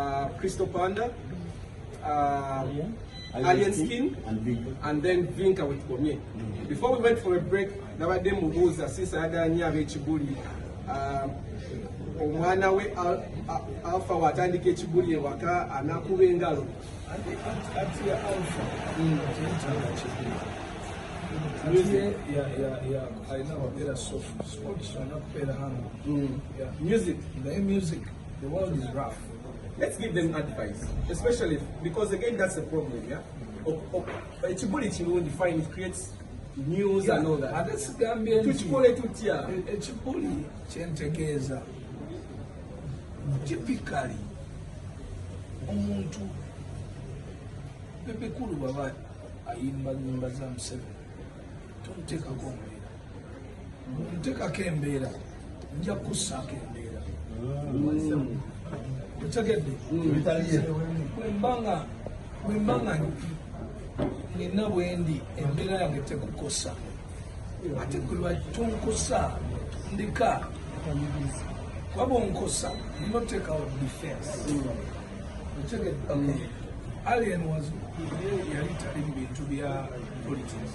uh, Crystal Panda, uh, Alien Skin, and then Vinka with Pomye. Mm. Before we went for a break, nabadde mubuuza since ayagala nnyo ab'ekibuli uh, omwana we alfa watandika ekibuli ewaka anakuba engalo music mm. The world is rough. Let's give them advice, especially because again that's a problem, yeah. Oh, oh, ekibuli kirungi fine it creates news yeah, and all that. Ate sigambye nti tukikole tutya. E, ekibuli kyentegeeza typically omuntu bebekulu baba ayimba nyimba za Museveni tomuteekako omuliro ntekako embeera nja kukussaako embeera otegedde wembanga nina bwendi embeera yange tekukosa ate kulwatonkosa ndika kwaba onkosa notekawo defense otegedde alien was yali tali mu bintu bya politics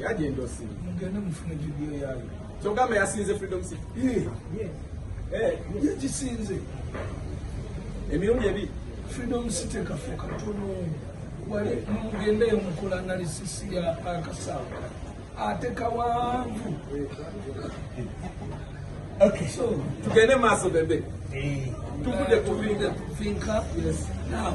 Yaje endosi. Mugende mufune video yayo. Kyogamba yasinze Freedom City. Eh. Yes. Eh, yagisinze. Emirundi ebi Freedom City kafuka tuno. Wale mugende mukula analysis ya akasawa. Ate kawanvu. Okay. So, tugende maso bebe. Eh. Tukude kuvinga. Finka. Yes. Now.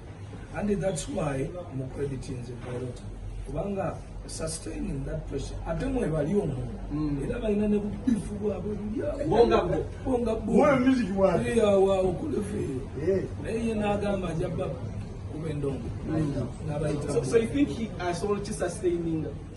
and that's why mu credit nze pilota kubanga sustaining that pressure ate mwe bali omu mm. era balina ne bubifu bwabwe bulyabongabongabulyawaokuleveeyo naye ye n'agamba aja baba kuba endongo mm. nabayita so you think he asobola uh, ki sustaininga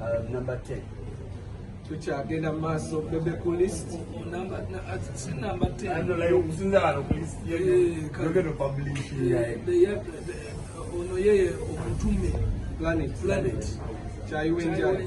Uh, number 10. tukyagenda mu maaso bebe ku list sinamba ono yeye omutume planet planet kyayiwenjayi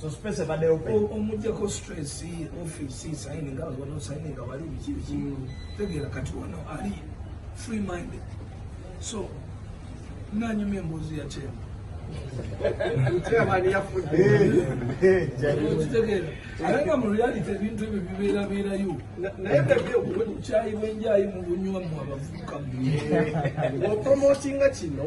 So space ebadde open. O- omujjako stress office signing nga wano signing nga wali biki biki tegeera kati wano ali free minded so nanyumya emboozi ya kyema Chairman yafudde. okitegeera ate nga mu reality ebintu ebyo bibeerabeerayo Na- Naye bebe obukyayi bwenjayi mu bunywa mu abavubuka mu opromotinga kino